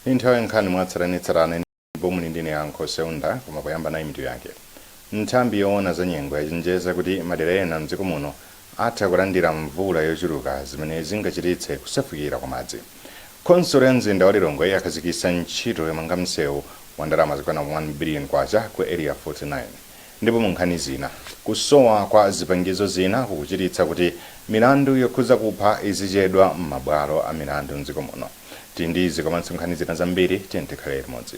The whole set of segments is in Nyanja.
Ndi nthawi ya nkhani mwatsatanetsatane ndipo muli ndi ine Yankho Seunda koma poyamba nayi mitu yake nthambi yoona za nyengo yachenjeza kuti madera ena mdziko muno Atha kulandira mvula yochuluka zimene zingachititse kusefukira kwa madzi. Khonsolo ya mzinda wa Lilongwe yakhazikitsa ntchito yomanga msewu wa ndalama zokwana K1 billion ku Area 49. Ndipo mu nkhani zina. Kusowa kwa zipangizo zina kukuchititsa kuti milandu yokhudza kupha izichedwa m'mabwalo a milandu m'dziko muno. Tili ndi izi komanso nkhani zina zambiri, tiyeni tikhale limodzi.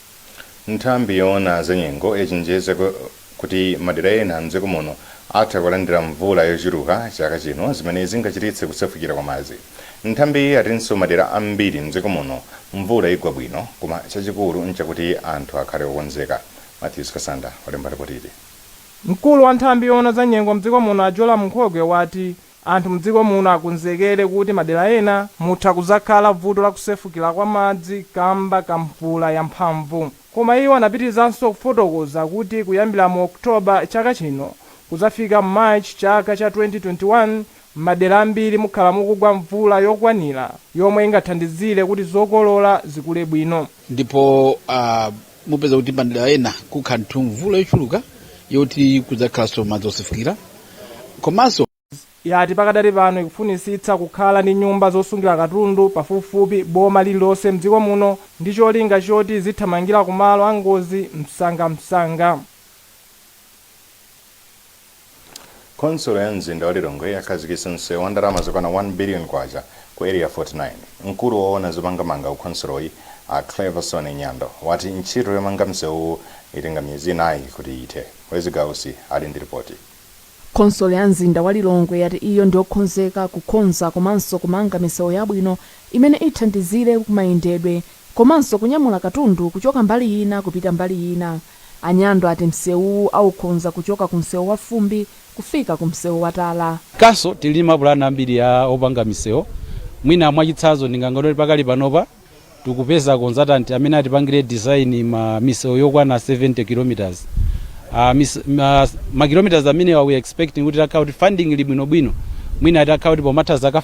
Nthambi yoona zanyengo yachenjeza kuti madera ena mdziko muno atha kulandira mvula yochuluka chaka chino zimene zingachititse kusefukira kwa madzi. Nthambiyi yatinso madera ambiri mdziko muno mvula igwa bwino koma chachikulu nchakuti anthu akhale okonzeka. Mathews Kasanda walemba lipotili. Mkulu wa nthambi yoona za nyengo mdziko muno a Jolam Nkhokwe wati Anthu mdziko muno akonzekere kuti madera ena mutha kudzakhala vuto la kusefukila kwa madzi kamba ka mvula ya mphamvu. Koma iwo anapitilizanso kufotokoza kuti kuyambila mu October chaka chino kudzafika March chaka cha 2021 mmadera ambiri mukhala mukugwa mvula yokwanila yomwe ingathandizile kuti zokolola zikule bwino. ndipo uh, mupeza kuti madera ena kukhala ndithu mvula yochuluka yoti kudzakhalanso madzi osefukira komanso yati pakadali pano ikufunisitsa kukhala ndi nyumba zosungira katundu pafupifupi boma lililonse mdziko muno ndi cholinga choti izithamangira kumalo angozi msangamsanga Khonsolo ya mzinda wa Lilongwe yakhazikitsa msewu wa ndalama zokwana K1 billion ku Area 49. Mkulu woona zomangamanga ku khonsoloyi, a Cleverson Nyando, wati ntchito yomanga msewuwu itenga miyezi inayi kuti ithe. Wezi Gausi ali ndi lipoti. Khonsolo ya mzinda wa Lilongwe yati iyo ndiyokhonzeka kukonza komanso kumanga misewu yabwino imene ithandizire kumayendedwe komanso kunyamula katundu kuchoka mbali ina kupita mbali ina. A Nyando ati msewuwu aukonza kuchoka ku msewu wa fumbi kufika ku msewu wa tala. Komanso tili ndi mapulani ambiri opanga misewu mwina mwachitsanzo ndingangonene kuti pakali panopa tikupeza konzatanti amene atipangire design ya misewu yokwana 70 kilometers a mise ma ma kilometers amenewa we are expecting kuti itakhala kuti funding ili bwino bwino mwina itakhala kuti pomatha zaka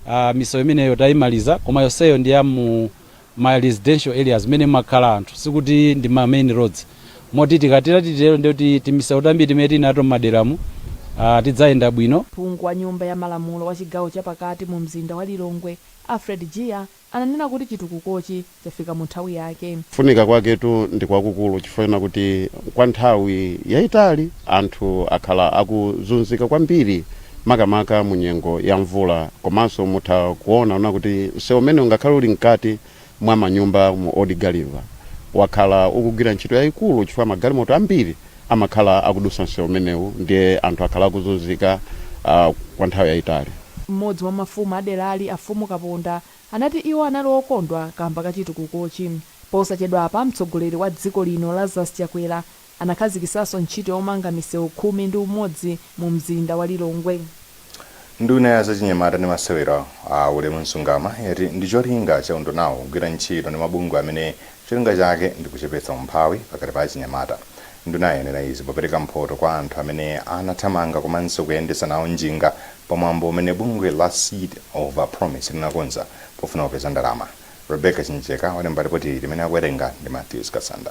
5 misewu imeneyo tayimaliza koma yonseyo ndi ya mu ma residential areas mene mumakhala anthu sikuti ndi ma main roads moti tikatera titero ndiye kuti timisewu tambiri timene tili nato m'maderamu ah tidzayenda bwino. Phungu wa nyumba ya malamulo wa chigawo cha pakati mu mzinda wa Lilongwe Alfred Jiya ananena kuti chitukukochi chafika mu nthawi yake. Kufunika kwaketu ndi kwakukulu chifukwa chonena kuti kwa nthawi yaitali anthu akhala akuzunzika kwambiri makamaka mu nyengo ya mvula. Komanso mutha kuonaona kuti msewu umenewu ngakhale uli mkati mwa manyumba mu Old Gulliver, wakhala ukugwira ntchito yayikulu chifukwa magalimoto ambiri amakhala akudutsa msewu umenewu ndiye anthu akhala akuzunzika kwa nthawi yayitali. M'modzi mwa mafumu a derali, a Mfumu Kaponda, anati iwo anali okondwa kaamba ka chitukukochi. Posachedwapa, mtsogoleri wa dziko lino Lazarus Chakwera Anakhazikisaso ntchito yomanga misewu khumi ndi umodzi mu mzinda wa Lilongwe. Nduna ya zachinyamata ndi masewero, a Ulemu Msungama, yati ndi cholinga cha undunawu kugwira ntchito ndi mabungwe amene cholinga chake ndi kuchepetsa umphawi pakati pa achinyamata. Ndunayi yanena izi popereka mphoto kwa anthu amene anathamanga komanso kuyendetsa nawo njinga pa mwambo umene bungwe la Seed of Promise linakonza pofuna kupeza ndalama. Rebecca Chinjeka walemba lipoti limene akuwerenga ndi Mathews Kasanda.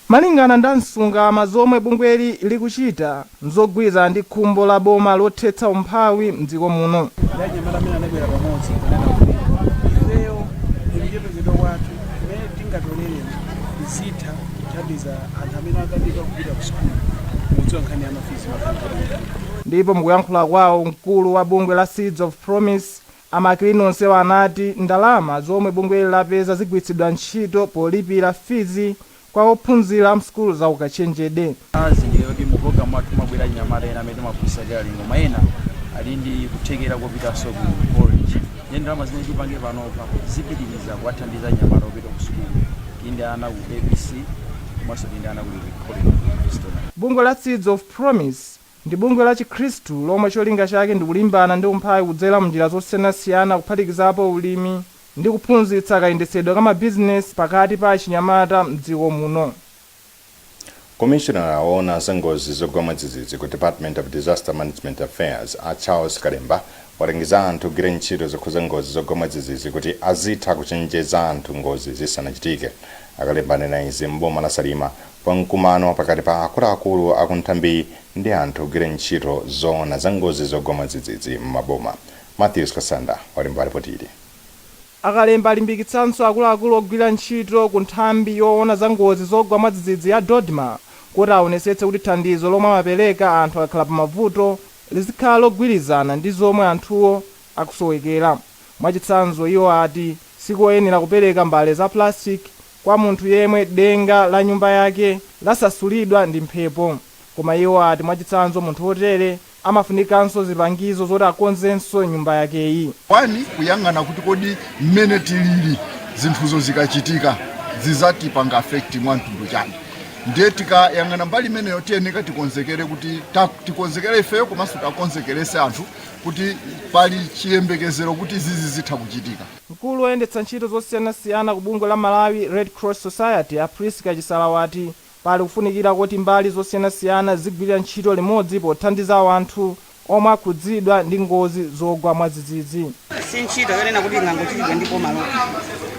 Malingana nda Msungama zomwe bungweli likuchita nzogwirizana ndi khumbo la boma lothetsa umphawi mdziko muno. Ndi anyamata amene anabwera pamodzi nkunena kuti ifeyo mukuchepekedwa kwathu timene tingatolere tizitha kuthandiza anthu amene akanika kupita ku sukulu mukudziwa nkhani ya mafizi mafizi. Ndipo mukuyankhula kwawo mkulu wa bungwe la Seeds of Promise A Maclean onsewa anati ndalama zomwe bungweli lapeza zigwiritsidwa ntchito polipira fizi kwa ophunzira a m'sukulu za ukachenjede. Tazindikira kuti mu pulogalamu mwathu mumabwera achinyamata ena amene timaphunzitsa tailoring koma ena ali ndi kuthekera kopitanso ku college nde ndalama zimene tipange panopa zipitiriza kuwathandiza achinyamata opita ku sukulu tili ndi ana ku ABC komanso tili ndi ana ku college. Bungwe la Seeds of Promise Ndi bungwe la chikhristu lomwe cholinga chake ndi kulimbana ndi umphawi kudzera mnjira zosiyanasiyana kuphatikizapo ulimi ndi kuphunzitsa kayendetsedwe ka mabizinesi pakati pa achinyamata m'dziko muno. Komishonala woona za ngozi zogwa mwadzidzidzi ku Department of Disaster Management Affairs, a Charles Kalemba, walangiza anthu ogwira ntchito zokhuza ngozi zogwa mwadzidzidzi kuti azitha kuchenjeza anthu ngozi zisanachitike. A Kalemba anena izi m'boma la Salima Pa mkumano pakati pa akuluakulu aku nthambiyi ndi anthu ogwira ntchito zoona za ngozi zogwa mwadzidzidzi m'maboma, Mathews Kasanda walemba lipoti ili. A Kalemba alimbikitsanso akuluakulu ogwira ntchito ku nthambi yoona za ngozi zogwa mwadzidzidzi ya DoDMA kuti awonesetse kuti thandizo lomwe amapereka anthu akakhala pa mavuto lizikhala logwirizana ndi zomwe anthuwo akusowekera. Mwachitsanzo, iwo ati sikoyenera kupereka mbale za plastic kwa munthu yemwe denga la nyumba yake lasasulidwa ndi mphepo. Koma iwo ati mwachitsanzo munthu otere amafunikanso zipangizo zoti akonzenso nyumba yakeyi. One kuyang'ana kuti kodi mmene tilili zinthuzo zikachitika zizatipanga affect mwa mtundu chani ndiye tikayang'ana mbali imeneyo tiyeneka tikonzekere kuti ta, tikonzekere ifeyo komanso tiakonzekerese anthu kuti pali chiyembekezero kuti zizi zitha kuchitika. Mkulu oyendetsa ntchito zosiyanasiyana ku bungwe la Malawi Red Cross Society a Prisca Chisala wati pali kufunikira kuti mbali zosiyanasiyana zigwirire ntchito limodzi pothandiza wanthu omwe akhudzidwa ndi ngozi zogwa mwadzidzidzi. Si ntchito yonena kuti ingangochitidwa ndi boma lokha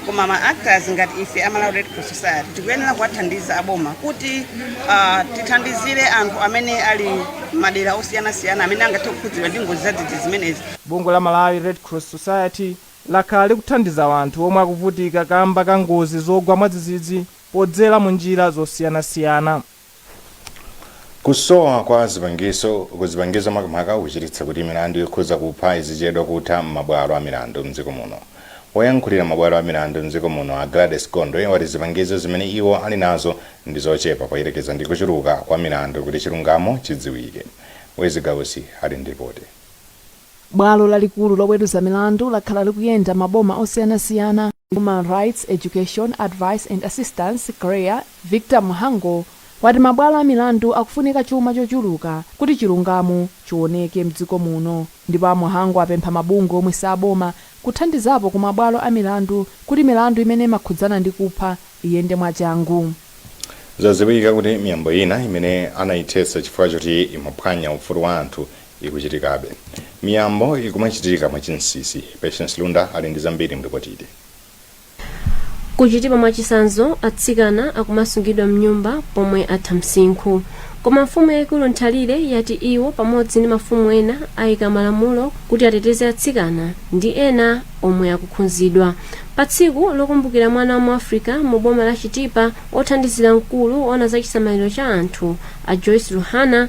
koma ma actors ngati ife a Malawi Red Cross Society tikuyenera kuwathandiza aboma kuti ah, tithandizire anthu amene ali madera osiyanasiyana amene angathe kukhudzidwa ndi ngozi zadzidzidzi zimenezi. Bungwe la Malawi Red Cross Society lakhala likuthandiza anthu omwe akuvutika kamba ka ngozi zogwa mwadzidzidzi podzera mu njira zosiyanasiyana. Kusowa kwa zipangiso kuzipangizo makamaka kukuchititsa kuti milandu yokhuza kupha izichedwa kutha m'mabwalo a milandu mdziko muno. Woyankhulira mabwalo a milandu mdziko muno a Gladys Gondwe wati zipangizo zimene iwo ali nazo ndi zochepa poyerekeza ndi kuchuluka kwa milandu kuti chilungamo chidziwike. Wezzie Gausi ali ndi lipoti. Bwalo lalikulu loweruza milandu lakhala likuyenda maboma osiyanasiyana. Human Rights Education, Advice and Assistance, CHREAA, Victor Mhango wati mabwalo a milandu akufunika chuma chochuluka kuti chilungamo chiwoneke mdziko muno. Ndipo a Mhango apempha mabungwe omwe si aboma kuthandizapo ku mabwalo a milandu kuti milandu imene imakhudzana ndi kupha iyende mwachangu. Zadziwika kuti miyambo ina imene anayithetsa chifukwa choti imaphwanya ufulu wa anthu ikuchitikabe. Miyambo ikumachitika mwa chinsisi. Patience Lunda ali ndi zambiri mlipotili. Ku Chitipa mwachisanzo atsikana akumasungidwa mnyumba pomwe atha msinkhu. Koma mfumu yaikulu Nthalire yati iwo pamodzi ndi mafumu ena aika malamulo kuti ateteze atsikana ndi ena omwe akukhunzidwa. Pa tsiku lokumbukira mwana wa mu Africa mu boma la Chitipa, othandizira mkulu oona za chisamaliro cha anthu a Joyce Luhana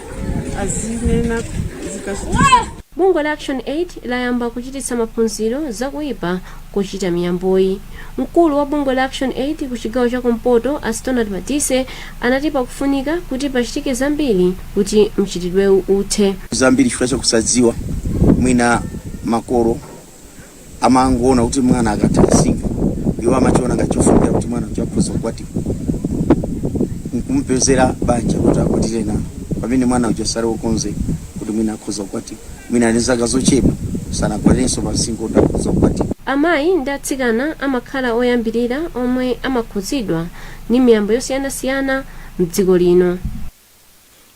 azinena zikachitisa bungwe la ActionAid layamba kuchititsa maphunziro za kuipa kochita miyamboyi mkulu wa bungwe la ActionAid ku chigawo cha kumpoto a Stonard Madise anati pakufunika kuti pachitike zambiri kuti mchitidwewu uthe zambiri chifukwa chakusadziwa mwina makolo amangoona kuti mwana akatha msinkhu iwo amachiona ngati chofunikira kuti mwana uja akhoza kukwatiwa nkumpezera banja kuti akwatire nawo pamene mwana uja sali wokonzeka kuti mwina akhoza kukwatiwa mwina ali ndi zaka zochepa sanakwanirenso pa msinkhu kuti akhoza kukwatiwa amayi ndi atsikana amakhala oyambirira omwe amakhudzidwa ndi miyambo yosiyanasiyana mdziko lino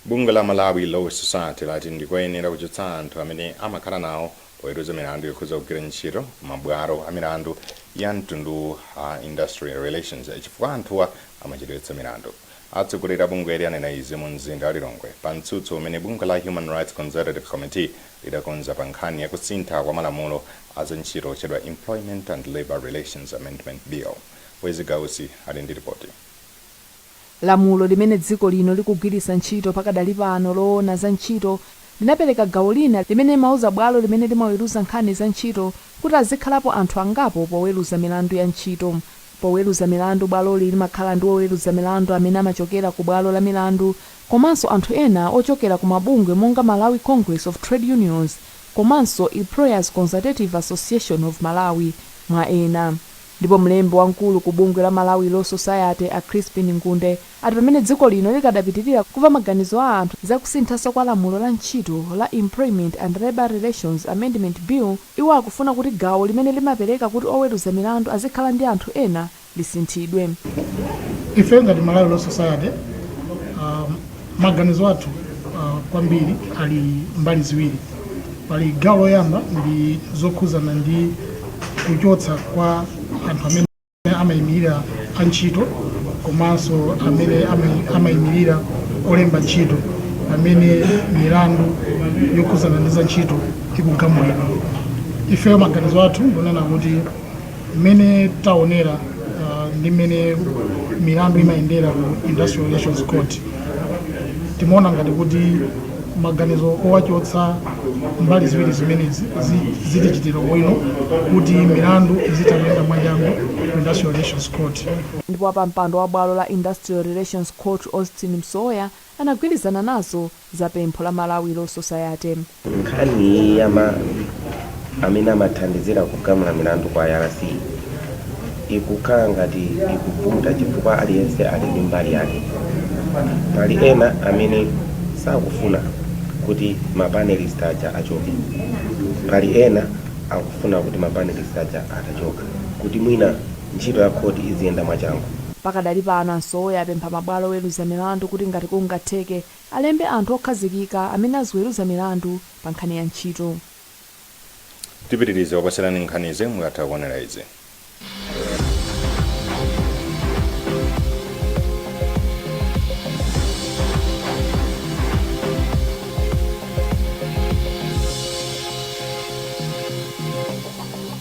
Bungwe la Malawi Law Society lati ndi koyenera kuchotsa anthu amene amakhala nawo poweruza milandu yokhudza kugwira ntchito ku mabwalo a milandu ya mtunduwu a Industrial Relations chifukwa anthuwa amachedwetsa milandu. Atsogoleri a bungweli anena izi mu mzinda wa Lilongwe pa mtsutso umene bungwe la Human Rights Consultative Committee lidakonza pa nkhani ya kusintha kwa malamulo a za ntchito otchedwa Employment and Labour Relations Amendment Bill. Wezzie Gausi ali ndi lipoti. Lamulo limene dziko lino likugwiritsa ntchito pakadali pano loona za ntchito linapereka gawo lina limene limauza bwalo limene limaweruza nkhani za ntchito kuti azikhalapo anthu angapo poweruza milandu ya ntchito. Poweruza milandu bwaloli limakhala ndi woweruza milandu amene amachokera ku bwalo la milandu komanso anthu ena ochokera ku mabungwe monga Malawi Congress of Trade Unions komanso Employers Consultative Association of Malawi, mwa ena. Ndipo mlembi wamkulu ku bungwe la Malawi Law Society a Chrispin Ngunde ati pamene dziko lino likadapitilira kuva maganizo a anthu za kusinthaso kwa lamulo la ntchito la Employment and Labour Relations Amendment Bill iwo akufuna kuti gawo limene limapereka kuti oweruza milandu azikhala ndi anthu ena lisinthidwe. Ife ngati Malawi Law Society, a. Maganizo athu uh, kwambiri ali mbali ziwiri. Pali gawo loyamba ndi zokhuzana ndi kuchotsa kwa anthu amene amayimirira antchito komanso amene amayimirira olemba ntchito pamene milandu yokhuzana ndi za ntchito ikugamulidwa. Ifeyo maganizo athu ndonena kuti mmene taonera uh, ndi mmene milandu imayendera ku industrial relations court timaona ngati kuti maganizo owachotsa mbali ziwiri zimenezi zi- zitichitira bwino kuti milandu izitha kuyenda mwachangu ku industrial relations court ndipo wapampando wa bwalo la industrial relations court austin msowoya anagwirizana nazo za pempho la Malawi Law Society. Nkhani iyi ya ma amene amathandizira kugamula milandu ku IRC ikukhala ngati ikuvuta chifukwa aliyense ali ndi mbali yake. Pali ena amene sakufuna kuti ma panelist aja achoke. Pali ena akufuna kuti ma panelist aja atachoka kuti mwina ntchito ya khoti iziyenda mwachangu. Pakadali pano, a Msowoya apempha mabwalo oweluza milandu kuti ngati kungatheke, alembe anthu okhazikika amene aziweluza milandu pa nkhani ya ntchito. tipitilize kukupatsirani nkhanizi mukatha kuonera izi.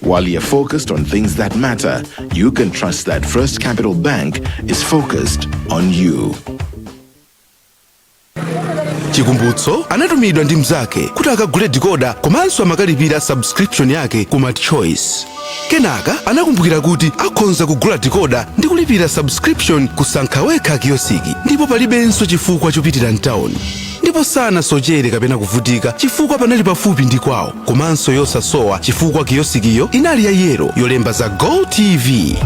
While you're focused on things that matter, you can trust that First Capital Bank is focused on you. chikumbutso anatumidwa ndi mnzake kuti akagule dikoda komanso amukalipirire subscription yake ku MultiChoice kenaka anakumbukira kuti akhonza kugula dikoda ndi kulipira subscription ku Sankha Wekha kiyosiki ndipo palibenso chifukwa chopitira mtawuni ndipo sanasochere kapena kuvutika chifukwa panali pafupi ndi kwawo komanso yosasowa chifukwa kiyosikiyo inali ya yelo yolemba za go tv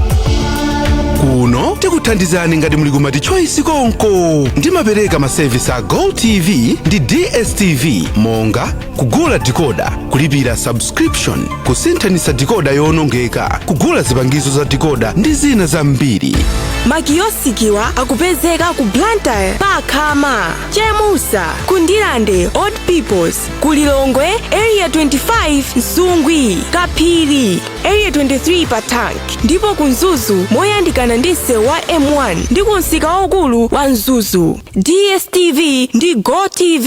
kuno tikuthandizani ngati muli ku MultiChoice konko ndimapereka masevisi a go tv ndi dstv monga kugula dikoda kulipira subscription kusinthanitsa dikoda yoonongeka kugula zipangizo za dikoda ndi zina zambiri makiyosikiwa akupezeka ku blantyre pa Khama chemusa ku Ndirande old peoples ku lilongwe area 25 msungwi kaphiri area 23 pa tank ndipo ku mzuzu moyandikana ndi msewu wa m1 ndi ku msika waukulu wa mzuzu dstv ndi gotv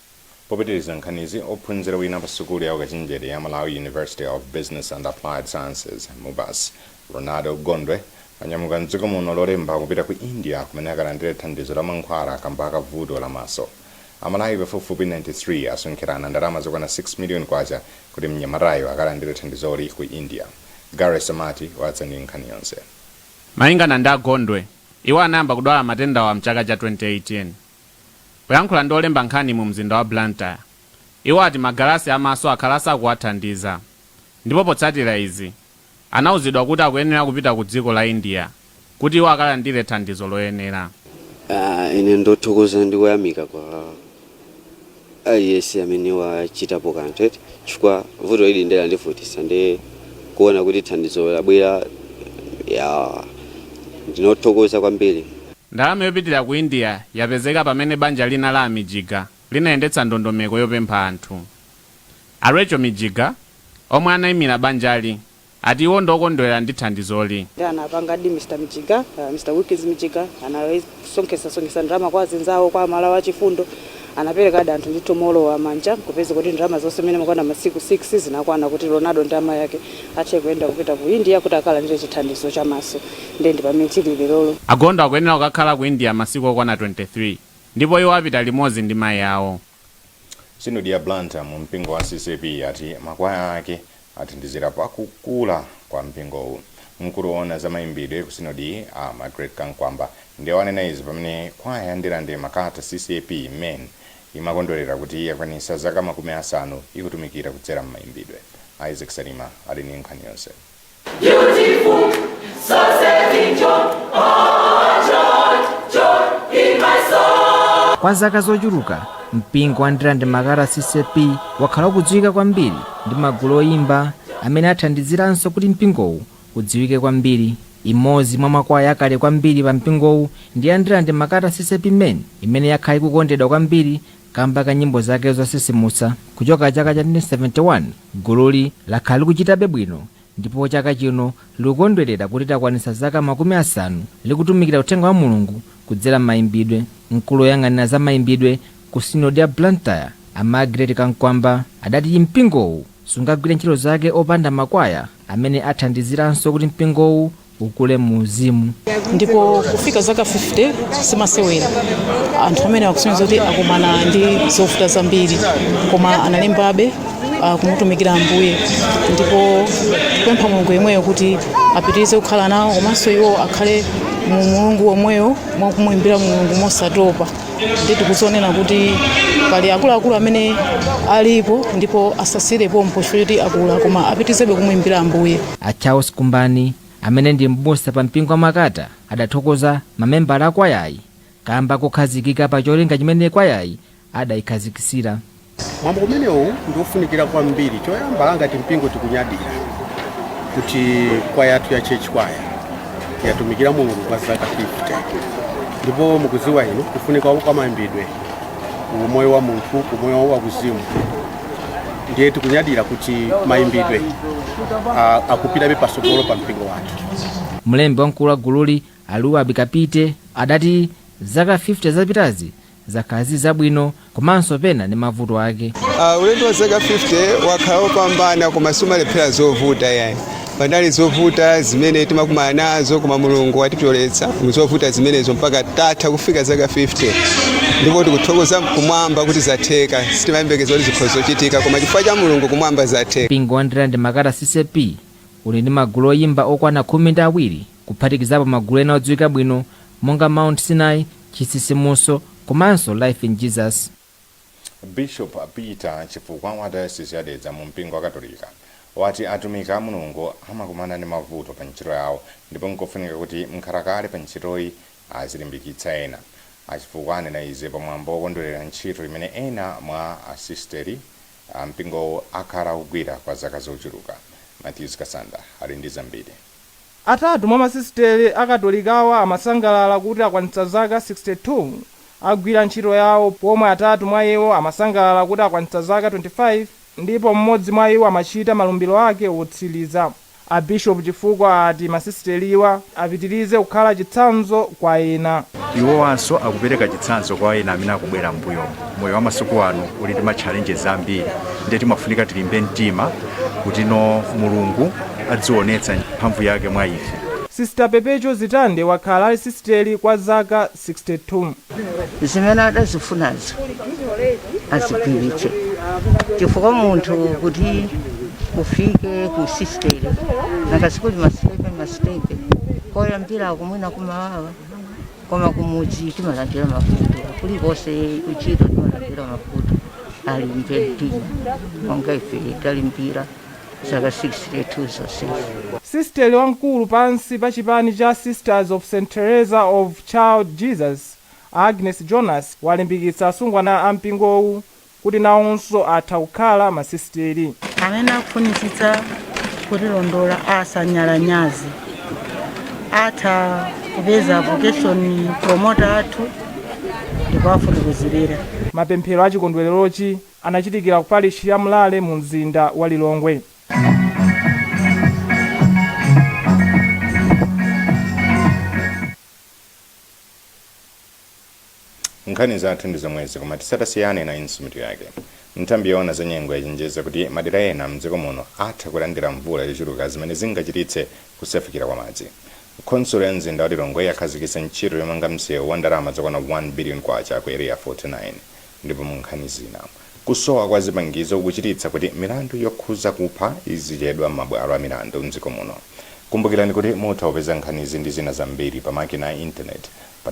Popitiriza nkhanizi, ophunzira wina pa sukulu ya ukachenjede ya Malawi University of Business and Applied Sciences, Mubas, Ronaldo Gondwe anyamuka m'dziko muno Lolemba kupita ku India kumene akalandire thandizo la mankhwala kamba ka vuto la maso. Amalawi pafupifupi 93 asonkherana ndalama zokwana K6 million kuti mnyamatayu akalandire thandizoli ku India. Gareth Samati wadza ndi nkhani yonse. Malingana ndi a Gondwe, iwo anayamba kudwala matendawa mchaka cha 2018. Poyankhula ndi olemba nkhani mu mzinda wa Blantyre, iwo ati magalasi a maso akhala asakuwathandiza ndipo potsatira izi, anauzidwa kuti akuyenera kupita ku dziko la India kuti iwo akalandire thandizo loyenera. Ine ndothokoza ndi kuyamika kwa aliyese amene wachitapo kanthu eti chifukwa vuto ili nde landivutitsa ndiye kuona kuti thandizo labwera ya ndinothokoza kwambiri Ndalama yopitira ku India yapezeka pamene banja lina la a Mijiga linayendetsa ndondomeko yopempha anthu. A Rachel Mijiga, omwe anaimira banjali, ati iwo ndiokondwera ndi thandizoli. Nde anapangadi Mr Mijiga, Mr Wilkins Mijiga anasonkhetsa sonkhetsa ndalama kwa azinzawo kwa amalawi achifundo anaperekadi anthu ndithu moolowa manja nkupezeka kuti ndalama zonse mmene amakwana masiku 6 zinakwana kuti Ronaldo ndi amayi ake athe kuyenda kupita ku India kuti akalandire chithandizo cha maso nde ndipamene tili lerolo. A Gondwe akuyenera kukakhala ku India masiku okwana 23 ndipo iwo apita limodzi ndi mayi awo. Sinodi ya Blantyre mu mpingo wa CCAP yati makwaya ake athandizira pa kukula kwa mpingowu. Mkulu owona za mayimbidwe ku sinodiyi a Margret Kamkwamba ndiwo anena izi pamene kwaya ya Ndirande Makata CCAP men imakondwelera kuti yakwanitsa zaka makumi asanu ikutumikira kudzera m'mayimbidwe. Isaac Salima ali ndi nkhani yonse. Kwa zaka zochuluka, mpingo wa Ndirande-Makata ccap wakhala ukudziwika kwambiri ndi magulu oyimba amene athandiziranso kuti mpingowu udziwike kwambiri. Imodzi mwa makwaya akale kwambiri pa mpingowu ndi ya Ndirande-Makata ccap men imene yakhala ikukondedwa kwambiri kamba ka nyimbo zake zotsitsimutsa kuchoka chaka cha 1971. Gululi lakhala likuchitabe bwino ndipo chaka chino likukondwerera kuti lakwanitsa zaka makumi asanu likutumikira uthenga wa Mulungu kudzera m'mayimbidwe. Mkulu woyang'anira za mayimbidwe ku Sinodi ya Blantyre, a Margret Kamkwamba, adati mpingowu sungagwire ntchito zake opanda makwaya amene athandiziranso kuti mpingowu ukule muuzimu. ndipo kufika zaka 50 simasewera anthu amene akusonyeza kuti akumana ndi zovuta zambiri koma analimbabe ah, kumutumikira ambuye ndipo kupempha mulungu yemweyo kuti apitirize kukhala nawo komanso iwo akhale mu mulungu womweyo mwakumuimbira mulungu mosatopa ndi tikudzionera kuti pali akuluakulu amene alipo ndipo asasiyire pompo poti akula koma apitirizebe kumuimbira ambuye A Charles Kumbani, amene ndi m'busa pa mpingo wa Makata, adathokoza mamembala a kwayayi kamba kokhazikika pa cholinga chimene kwayayi adayikhazikitsira. Mwambo umenewu ndi ofunikira kwambiri. Choyamba ngati mpingo tikunyadira kuti kwaya yathu ya Church Choir yatumikira Mulungu kwa zaka 50 ndipo mukudziwa inu kufunika kwa mayimbidwe ku umoyo wa munthu, ku umoyo wa kuzimu. ndiye tikunyadira kuti mayimbidwe a- akupitabe patsogolo pa mpingo wathu mlembi wamkulu wa gululi a Luwa Bika Piti adati zaka 50 zapitazi zakhala zili zabwino komanso pena ndi mavuto ake Uh, ulendo wa zaka 50 wakhala wopambana koma sumalephera zovuta yayi panali zovuta zimene timakumana nazo koma mulungu watipyoletsa muzovuta zimenezo mpaka tatha kufika zaka 50 ndipo tikuthokoza kumwamba kuti zatheka sitimayembekeza kuti zikhoza kuchitika koma chifukwa cha mulungu kumwamba zatheka Mpingo wa Ndirande Makata ccap uli ndi magulu oyimba okwana khumi ndi awiri kuphatikizapo magulu ena odziwika bwino monga Mount Sinai, Chitsitsimutso komanso Life in Jesus. Bishop Peter Chifukwa wa Diocese ya Dedza mu mpingo wakatolika wati atumiki a Mulungu amakumana ndi mavuto pa ntchito yawo ndipo nkofunika kuti mkhalakale pa ntchitoyi azilimbikitsa ena. A Chifukwa anena izi pa mwambo wokondwelera ntchito imene ena mwa a sisteri a mpingowu akhala akugwira kwa zaka zochuluka. Mathews Kasanda ali ndi zambiri. Atatu mwa masisiteri a Katolikawa amasangalala kuti akwanitsa zaka 62 agwira ntchito yawo pomwe atatu mwa iwo amasangalala kuti akwanitsa zaka 25 ndipo m'modzi mwa iwo amachita malumbiro ake otsiliza. A Bishop Chifukwa ati masisiteriwa apitilize kukhala chitsanzo kwa ena. Iwowanso akupereka chitsanzo kwa ena amene akubwera m'mbuyomu. moyo wa masiku ano uli ndi matchalenjezi ambiri ndiye timafunika tilimbe mtima kutino mulungu adzionetsa mphamvu yake mwa ife Sister Perpetua Zitande wakhala ali sisiteli kwa zaka 62. zimene adazifunazo azipirire chifukwa munthu kuti ufike ku sisiteri nanga sikuli masitepe masitepe koyambira kumwinako kumawawa koma kumudzi timalandira mavuto kulikonse kuntchito timalandira mavuto alimbe mtima monga ife talimbira zaka 62 zonsezo Sisteri wamkulu pansi pa chipani cha Sisters of St Teresa of Child Jesus, a Agnes Jonas, walimbikitsa asungwana a mpingowu kuti nawonso atha kukhala masisiteri. Amene akufunitsitsa kutilondola asanyalanyaze. Atha kupeza vocation promoter athu ndikuwafotokozerera. Mapemphero a chikondwererochi anachitikira ku parishi ya Mlale mu mzinda wa Lilongwe. Nkhani zathu ndi zomwezi koma tisatasiyane nayinso mitu yake. Nthambi yoona za nyengo yachenjeza kuti madera ena mdziko muno atha kulandira mvula yochuluka zimene zingachititse kusefukira kwa madzi. Khonsolo ya mzinda wa Lilongwe yakhazikitsa ntchito yomanga msewu wa ndalama zokwana K1 billion ku Area 49. Ndipo munkhani zina. Kusowa kwa zipangizo kukuchititsa kuti milandu yokhuza kupha izichedwa mmabwalo a milandu mdziko muno. Kumbukirani kuti mutha kupeza nkhanizi ndi zina zambiri pa makina a intaneti pa.